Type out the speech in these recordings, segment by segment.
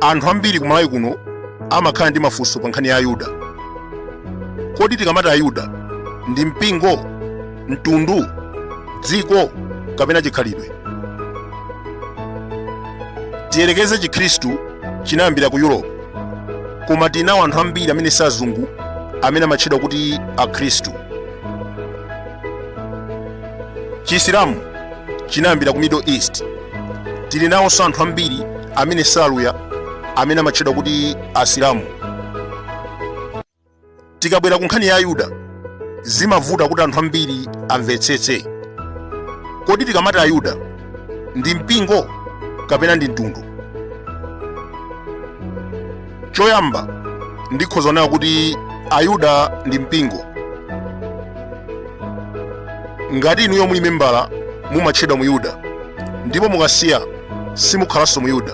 anthu ambiri kumalawi kuno amakhala ndi mafunso pa nkhani ya ayuda kodi tikamati ayuda ndi mpingo mtundu dziko kapena chikhalidwe tiyerekeze chikhristu chinayambira ku europe koma tinawo anthu ambiri amene si azungu amene amatchedwa kuti akhristu chisilamu chinayambira ku middle east tili nawonso anthu ambiri amene si aluya amene amatchedwa kuti asilamu tikabwera ku nkhani ya ayuda zimavuta kuti anthu ambiri amvetsetse kodi tikamati ayuda ndi mpingo kapena ndi mtundu choyamba ndikhoza kunena kuti ayuda ndi mpingo ngati inuyo muli membala mumatchedwa muyuda ndipo mukasiya simukhalanso muyuda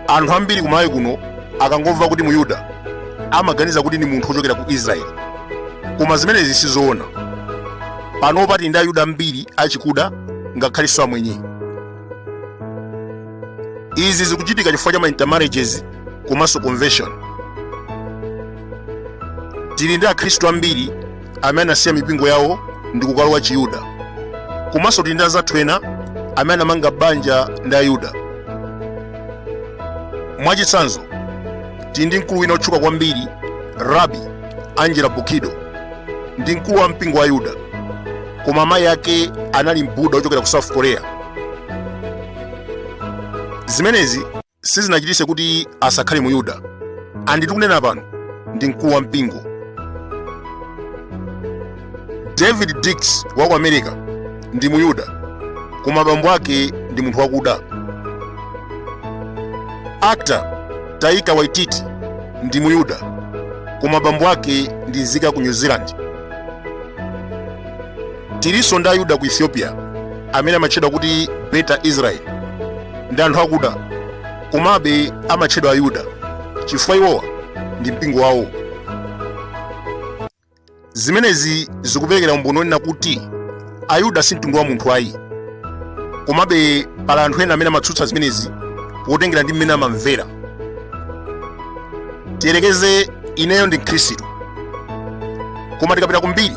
anthu ambiri kumalawi kuno akangomva kuti muyuda amaganiza kuti ndi munthu wochokera ku israeli koma zimenezi sizoona panopa tili ndi ayuda ambiri achikuda ngakhalinso amwenye izi zikuchitika chifukwa cha ma intermarriages komanso conversion tili ndi akhristu ambiri amene anasiya mipingo yawo ndi kukalowa chiyuda komanso tili ndi anzathu ena amene anamanga banja ndi ayuda mwachitsanzo tili ndi mkulu wina wotchuka kwambiri rabi angela buchdahl ndi mkulu wa mpingo wa ayuda koma mayi ake anali mbuda wochokera ku south korea zimenezi sizinachititse kuti asakhale muyuda and tikunena pano ndi mkulu wa mpingo daveed diggs wa ku america ndi muyuda koma bambo ake ndi munthu wakuda actor taika waititi ndi muyuda koma bambo ake ndi nzika ya ku new zealand tilinso ndi ayuda ku ethiopia amene amatchedwa kuti beta israel ndi anthu akuda komabe amatchedwa ayuda chifukwa iwowa ndi mpingo wawo zimenezi zikuperekera umboni wonena kuti ayuda si mtundu wa munthu ayi komabe pali anthu ena amene amatsutsa zimenezi potengera ndi mmene amamvera tiyerekeze ineyo ndi mkhristu koma tikapita kumbiri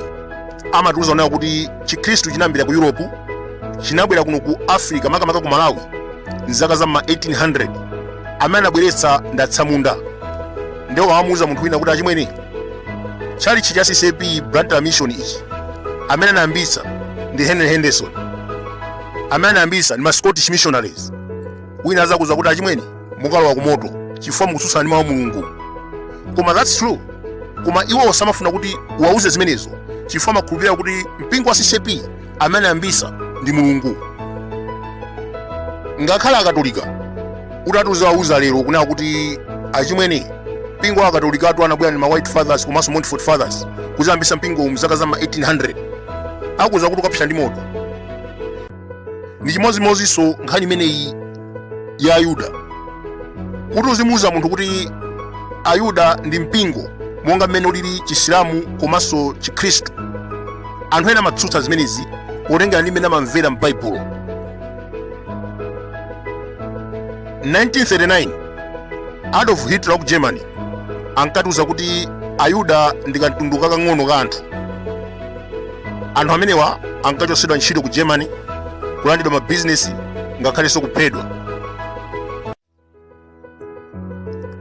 amatiuza onena kuti chikhristu chinayambira ku yuropu chinabwera kuno ku africa makamaka ku malawi mzaka za ma 1800 amene anabweretsa ndatsamunda ndiye pomamuuza munthu wina kuti achimwene tchalitchi cha ccp blantyre mission ichi amene anayambitsa ndi henry henderson amene anayambitsa ndi ma scottish missionaries wina azakuuza kuti achimwene mukalowa ku moto chifukwa mukutsutsana ndi mawu a mulungu koma that's true koma iwo samafuna kuti uwauze zimenezo chifukwa amakhulupirira kuti mpingo wa ccp amene anayambisa ndi mulungu ngakhale akatolika utatiuzawauza lero kunena kuti achimwene mpingo wa akatolikatu anabwera ndi ma white fathers komanso montfort fathers kuzayambisa mpingo uwu mzaka za ma 1800 akuuza kuti ukapsa ndi moto ndi chimodzimodzinso nkhani imeneyi ya ayuda kuti uzimuuza munthu kuti ayuda ndi mpingo monga mmene ulili chisilamu komanso chikhristu anthu ena amatsutsa zimenezi potengera ndi mmene amamvera m'baibulo 1939 adolf hitler wa ku germany ankatiuza kuti ayuda ndi kamtundu kakang'ono ka anthu anthu amenewa ankachotsedwa ntchito ku germany kulandidwa mabizinesi ngakhalenso kuphedwa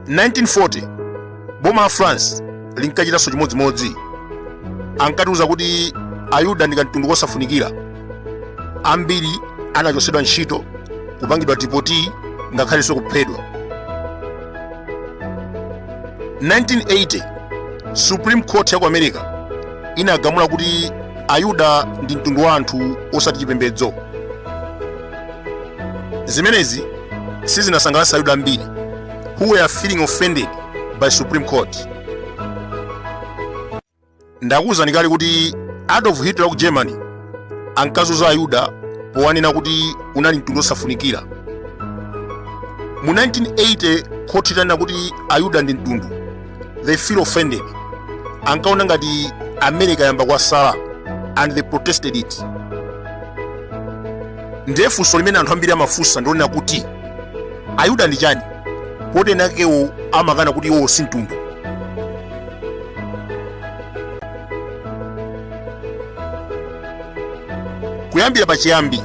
1940 boma la france linkachitanso chimodzimodzi ankatiuza kuti ayuda ndi kamtundu kosafunikira ambiri anachotsedwa ntchito kupangidwa dipoti ngakhalenso kuphedwa 1980 supreme court ya ku america inagamula kuti ayuda ndi mtundu wa anthu osati chipembedzo zimenezi sizinasangalatsa ayuda ambiri who were feeling offended by supreme court ndakuwuzani kale kuti adolf hitler wa ku germany ankazunza ayuda powanena kuti unali mtundu wosafunikira mu 1980 khoti litanena kuti ayuda ndi mtundu they feel offended ankaona ngati america yayamba kuwasala and they protested it ndiye funso limene anthu ambiri amafunsa ndi lonena kuti ayuda ndi chani poti enakewo amakana kuti iwowo si mtundu kuyambira pachiyambi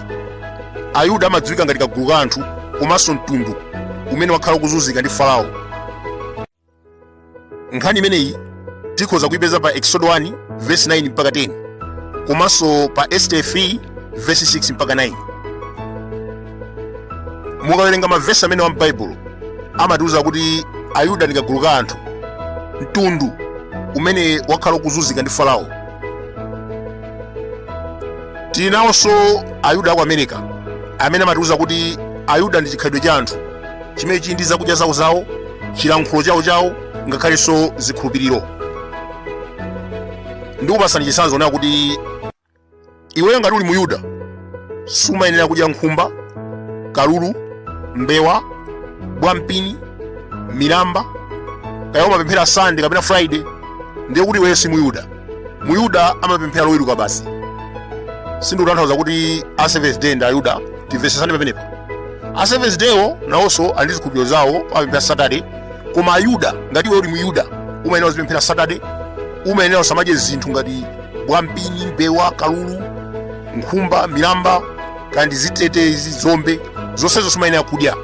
ayuda amadziwika ngati kagulu ka anthu komanso mtundu umene wakhala ukuzunzika ndi farao nkhani imeneyi tikhoza kuipeza pa exodo 1 verse 9 mpaka 10 komanso pa este 3 verse 6 mpaka 9 mukawerenga mavesi amenewa m'baibulo amatiuza kuti ayuda ndi kagulu ka anthu mtundu umene wakhala ukuzunzika ndi farao tili nawonso ayuda aku america amene amatiuza kuti ayuda ndi chikhalidwe cha anthu chimene chili ndi zakudya zawo zawo chilankhulo chawo chawo ngakhalenso zikhulupiriro ndikupasani chitsanzo kunena kuti iweyo ngati uli muyuda sumayenera kudya nkhumba kalulu mbewa bwampini milamba kaya umapemphera sande kapena Friday ndiye kuti iweyo si muyuda muyuda amapemphera loweruka basi sindikutanthauza kuti a seventh day ndi ayuda timvesesane pamenepa a seventh daywo nawonso ali ndi zikhulupiriro zawo amapemphera saturday koma ayuda ngati iwe uli muyuda umayenera uzipemphera saturday umayenera usamadye zinthu ngati bwampini mbewa kalulu nkhumba milamba kaya ndi zitete izi dzombe zonsezo sumayenera kudya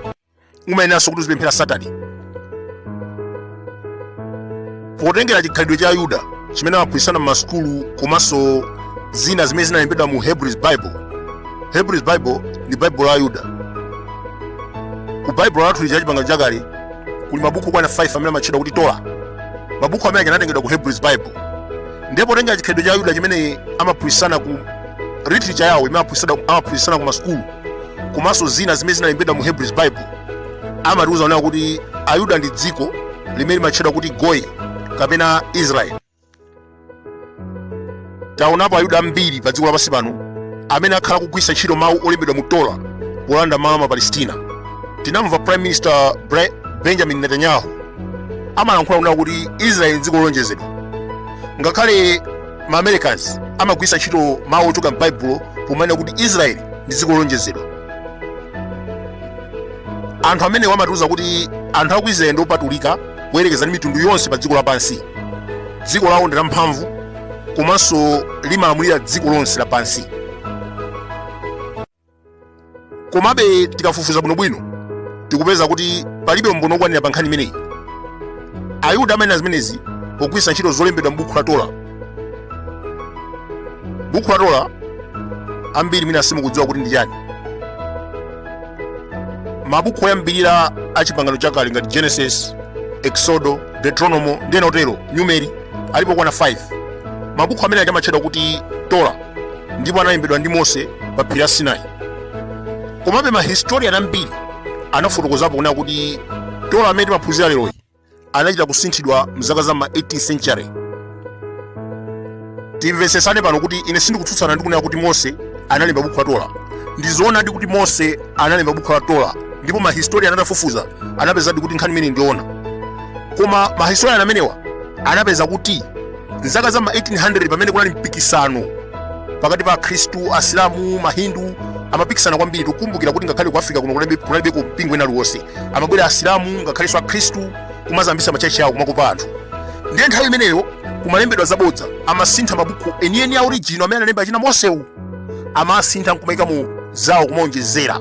umayeneranso kuti uzipemphera satade potengera chikhalidwe cha ayuda chimene amaphunzitsana m'masukulu komanso zina zimene zinalembedwa mu hebrews bible hebrews bible ndi baibulo la ayuda ku baibulo lathu lija chipangano chakale kuli mabuku okwana 5 amene amatchedwa kuti Torah mabuku amene anatengedwa ku hebrews bible ndipo potengera chikhalidwe cha ayuda chimene amaphunzitsana ku literature yawo imene amaphunzitsana ku masukulu komanso zina zimene zinalembedwa mu hebrews bible amatiuza kunena kuti ayuda ndi dziko limene limatchedwa kuti goyi kapena israeli taonapo ayuda ambiri pa dziko lapansi pano amene akhala kugwiritsa ntchito mawu olembedwa mu Torah polanda malo a ma Palestina tinamva prime minister benjamin netanyahu amalankhula kunena kuti israeli ndi dziko lolonjezedwa ngakhale ma americans amagwiritsa ntchito mawu ochoka m'baibulo pomanena kuti israeli ndi dziko lolonjezedwa anthu amenewa amatiuza kuti anthu aku israeli ndi opatulika kuyerekeza ndi mitundu yonse pa dziko lapansi dziko lawo ndi lamphamvu komanso limalamulira dziko lonse lapansi komabe tikafufuza bwinobwino tikupeza kuti palibe umboni wokwanira pa nkhani imeneyi ayuda amanena zimenezi pogwiritsa ntchito zolembedwa m'buku la Torah buku la Torah ambiri mwina simukudziwa kuti ndi chani mabuku oyambirira a chipangano chakale ngati genesis exodo deuteronomo ndi ena otero numeri alipo okwana 5 mabuku amene aja amatchedwa kuti Torah ndipo analembedwa ndi mose pa phiri la sinai komabe mahistorian ambiri anafotokozapo kunena kuti Torah amene timaphunzira leroyi anachita kusinthidwa mzaka za ma 8th century timvetsesane pano kuti ine sindikutsutsana ndi kunena kuti mose analemba bukhu la Torah ndi zoonadi kuti mose analemba bukhu la Torah ndipo mahistorian atafufuza anapezadi kuti nkhani imeneyi ndi yoona koma mahistorian amenewa anapeza kuti mzaka za ma 1800 pamene kunali mpikisano pakati pa akhristu asilamu mahindu amapikisana kwambiri tikukumbukira kuti ngakhale ku africa kuno kunalibeko mpingo ina aliwonse amabwera asilamu ngakhalenso akhristu kumazambisa machechi awo kumakopa anthu ndiye nthawi imeneyo kumalembedwa zabodza amasintha mabuku enieni a original amene analemba achina mosewo amasintha nkumaikamo zawo kumaonjezera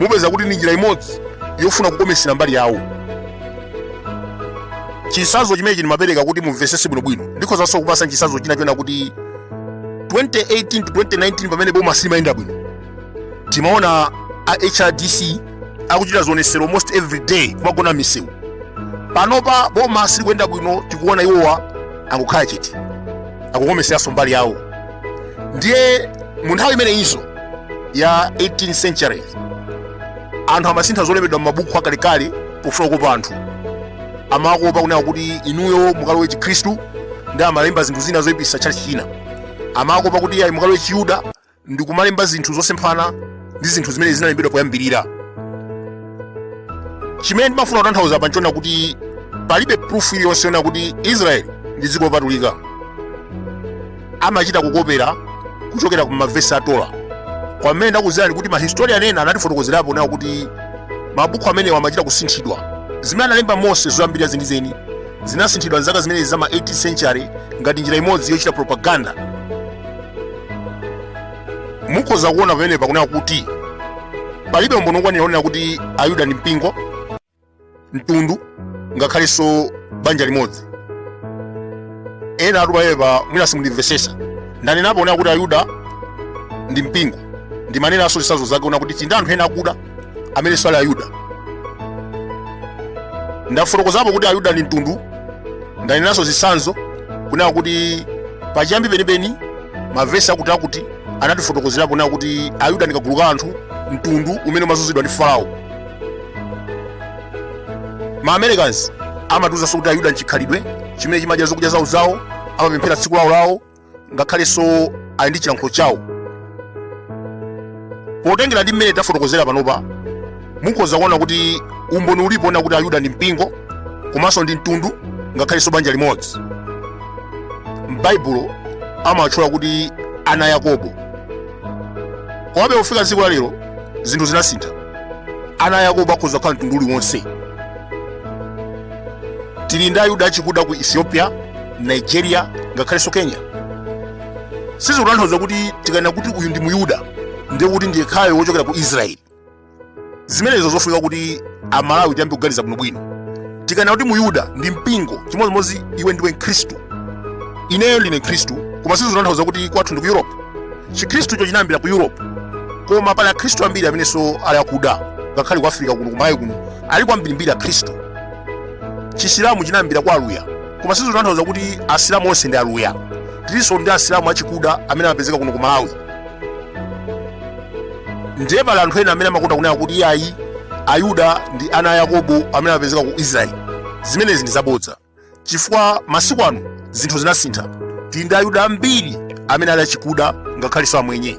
mupeza kuti ndi njira imodzi yofuna kukomesera mbali yawo chisazo chimene ndimapereka kuti mumvesese bwinobwino ndikhozanso kupatsa chisazo china chona kuti 2018 to 2019 pamene boma silimayenda bwino timaona a hrdc akuchita zionesero almost every day kumagona m'misewu panopa boma silikuyenda bwino tikuona iwowa angokhala chete akukomeseranso mbali yawo ndiye mu nthawi imeneyinso ya 18th century anthu amasintha zolembedwa m'mabuku akalekale pofuna kukopa anthu amakopa kunena kuti inuyo mukalowe chikhristu ndi amalemba zinthu zina zoipirisa tchalitchi china amakopa kuti ayi mukalowe chiyuda ndi kumalemba zinthu zosemphana ndi zinthu zimene zinalembedwa poyambirira chimene ndimafuna kutanthauza apa nchona kuti palibe proof iliyonse yonena kuti israeli ndi dziko lopatulika amachita kukopera kuchokera ku mavesi a Torah kwamene ndakuzirani kuti mahistorian ena anatifotokozerapo kunena kuti mabuku amenewa amachita kusinthidwa zimene analemba mose zoyambirira zenizeni zinasinthidwa m'zaka zimenezi za ma 18th century ngati njira imodzi yochita propaganda mukhoza kuona pamenepa kunena kuti palibe umboni wokwanira wonena kuti ayuda ndi mpingo mtundu ngakhalenso banja limodzi ena ati pamenepa mwina simunandimvesese ndanenapo kunena kuti ayuda ndi mpingo ndimanenanso zisazo zake ona kuti tili nda anthu ena akuda amenenso ali ayuda ndafotokozapo kuti ayuda ndi mtundu ndanenanso zitsanzo kunena kuti pachiyambi penipeni mavesi akuti akuti anatifotokozerapo kunena kuti ayuda ndi kagulu ka anthu mtundu umene umazunzidwa ndi farao ma americans amatiuzanso kuti ayuda nchikhalidwe chimene chimadya zokudya zawo zawo amapemphera tsiku lawo lawo ngakhalenso ali ndi chilankhulo chawo potengera ndi mmene tafotokozera panopa mukhoza kuona kuti umboni ulipo ona kuti ayuda ndi mpingo komanso ndi mtundu ngakhalenso banja limodzi m'baibulo amawatchula kuti ana a yakobo komabe kufika tsiku la lero zinthu zinasintha ana a yakobo akhoza kukhala mtundu uliwonse tili ndi ayuda achikuda ku ethiopia nigeria ngakhalenso kenya sizikutanthauza kuti tikanena kuti uyu ndi muyuda ndiye kuti ndi yekhayo wochokera ku israeli zimenezo zofunika kuti amalawi tiyambe kuganiza bwinobwino tikanena kuti muyuda ndi mpingo chimodzimodzi iwe ndiwe mkhristu ineyo ndine mkhristu koma sizikutanthauza kuti kwathu ndi ku europe chikhristucho chinayambira ku europe koma pali akhristu ambiri amenenso ali akuda ngakhale ku africa kuno ku malawi kuno ali kwambirimbiri akhristu chisilamu chinayambira kwa aluya koma sizikutanthauza kuti asilamu onse ndi aluya tilinso ndi asilamu achikuda amene amapezeka kuno ku malawi ndiye pali anthu ena amene amakonda kunena kuti iyayi ayuda ndi ana a yakobo amene amapezeka ku israeli zimenezi ndi zabodza chifukwa masiku ano zinthu zinasintha tili ndi ayuda ambiri amene ali achikuda ngakhalenso amwenye